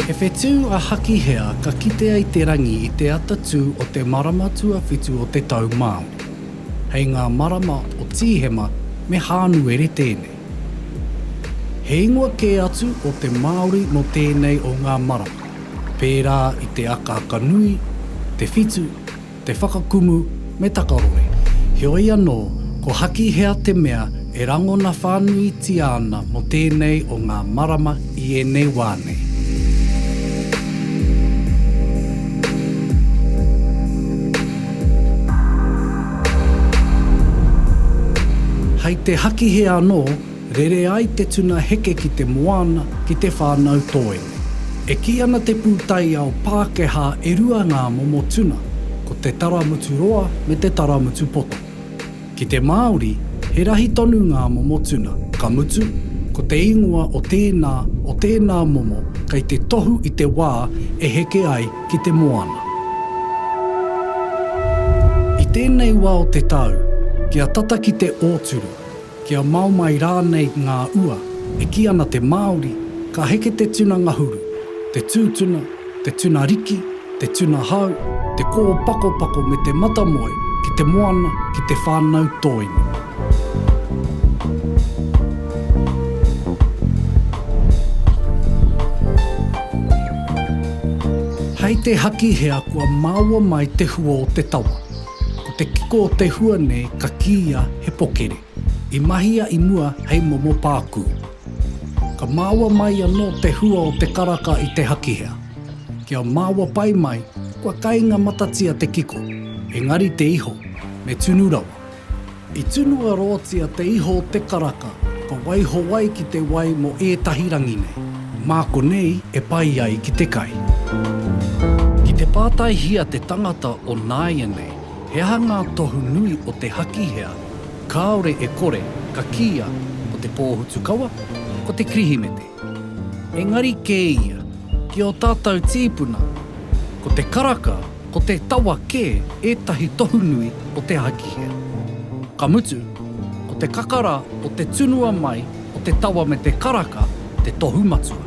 He whetū a Hakihea ka kitea i te rangi i te ata tū o te marama tuawhitu o te tau Māori. Hei ngā marama o Tīhema me Hānuere tēnei. He ingoa kē atu o te Māori nō tēnei o ngā marama, pērā i te akaaka nui, te whitu, te whakakumu me takaroe, heoi anō ko Hakihea te mea e rangona whānuitia ana mō tēnei o ngā marama i ēnei wā nei. Hei te hakihe anō, rere ai te tuna heke ki te moana, ki te whānau toi. E kī ana te pūtaiao Pākehā e rua ngā momo tuna, ko te taramutu roa me te taramutu poto. Ki te Māori, he rahi tonu ngā momo tuna, ka mutu, ko te ingoa o tēnā, o tēnā momo kei te tohu i te wā e heke ai ki te moana. I tēnei wā o te tau, kia tata ki te ōturu, kia mao mai rānei ngā ua, e kī ana te Māori, ka heke te tuna ngahuru, te tūtuna, te tuna riki, te tuna hau, te kōpakopako me te matamoe ki te moana, ki te whānau tōinu. Hei te Hakihea kua maua mai te hua o te tawa, ko te kiko o te hua nei ka kīia he pokere. I mahia i mua hei momo pākū. Ka māua mai anō te hua o te karaka i te hakihea. Kia māua pai mai, kua kainga matatia te kiko, engari te iho, me tunu rawa. I tunu aroatia te iho o te karaka, ka waiho ai ki te wai mō ētahi rangi nei. Mā konei e pai ai ki te kai. Ki te pātaihia te tangata o nāianei, He aha ngā tohu nui o te Hakihea kāore e kore ka kīia ko te Pōhutukawa, ko te Kirihimete? Engari kē ia, ki ō tātou tīpuna, ko te karaka, ko te tawa kē ētahi tohu nui o te Hakihea. Ka mutu, ko te kakara o te tunua mai o te tawa me te karaka te tohu matua.